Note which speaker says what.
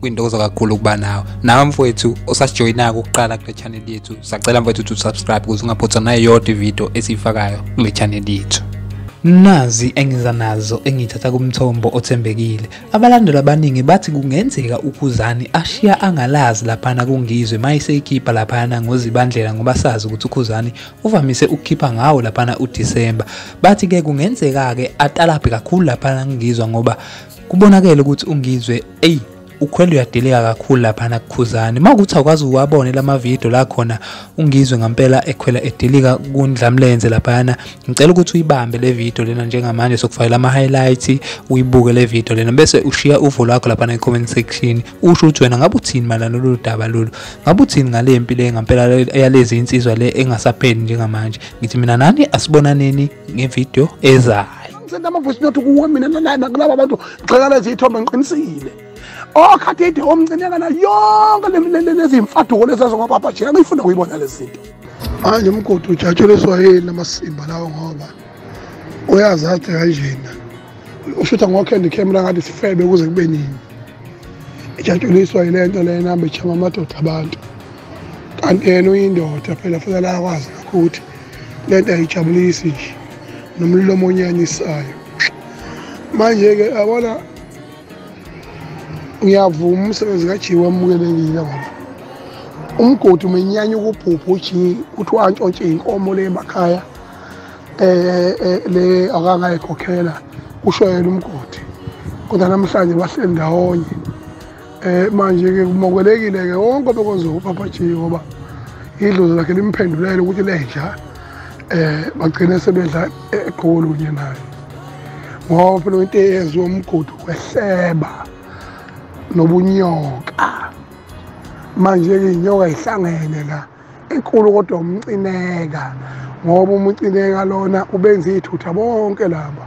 Speaker 1: kwintokozo kakhulu ukuba nawe nawe mfowethu osasijoyinako ukuqala kule channel yethu sacela mfowethu ukuthi usubscribe ukuze ungaphothwa nayo yodwa ividiyo esiyifakayo kule channel yethu nazi engiza nazo engithatha kumthombo othembekile abalandeli abaningi bathi kungenzeka ukhuzani ashiya angalazi laphana kungizwe mayiseyikhipha laphana ngozibandlela ngoba sazi ukuthi ukhuzani uvamise ukukhipha ngawo laphana udisemba bathi-ke kungenzeka-ke atalabhe kakhulu laphana kungizwa ngoba kubonakele ukuthi ungizwe eyi ukhwele uyadeleka kakhulu lapha nakukhuzani uma ukuthi awukwazi uwabone lama video la khona ungizwe ngampela ekhwela edelika kundlamlenze laphayana ngicela ukuthi uyibambe le video lena njengamanje sokufakela ama highlights uyibuke le video lena bese ushiya uvo lwakho lapha ne comment section usho ukuthi wena ngabe uthini malana lolu daba lolu ngabe uthini ngale mpi le ngampela yalezi insizwa le engasapheli njengamanje ngithi mina nani asibonaneni ngevideo eza hayi ngisenda ama voice note
Speaker 2: kuwe mina nalana kulaba abantu ngixakala izithombe ngiqinisile okhathide oh, omncinyakana yonke lezimfaduko lezazo ngobaba jika ngiyifuna kuyibona lezi zinto manje umgodi ujatshuliswa yini amasimba lawo ngoba uyazi athi kanjena ushutha ngokhendi camera ngathi sifebe kuze kube nini ijatshuliswa yile nto le namba ijhama amadoda abantu kanti yena uyindoda phela futhi alakwazi nakho ukuthi le nto ayijabulisi nje nomlomo onyanyisayo manje-ke abona ngiyavuma umsebenzi kajiyi wamukelekile ngoba umgodi umenyanya ukubhubha ujiyi kuthiwa antshontshe inkomo le emakhaya um le akangayikhokhela kusho yena umgodi kodwa namhlanje bahleli ndawonye Eh manje ke kumokelekile ke wonke obekwenza uPapa G ngoba idlozi lakhe limphendulele ukuthi lenja eh bagcine sebedla eGoli kunye naye. Ngoba phela into eyenziwa umgudu wehleba nobunyoka. Manje ke inyoka ihlangene la enkulu kodwa umcineka ngoba umucineka lona ubenza ithutha bonke laba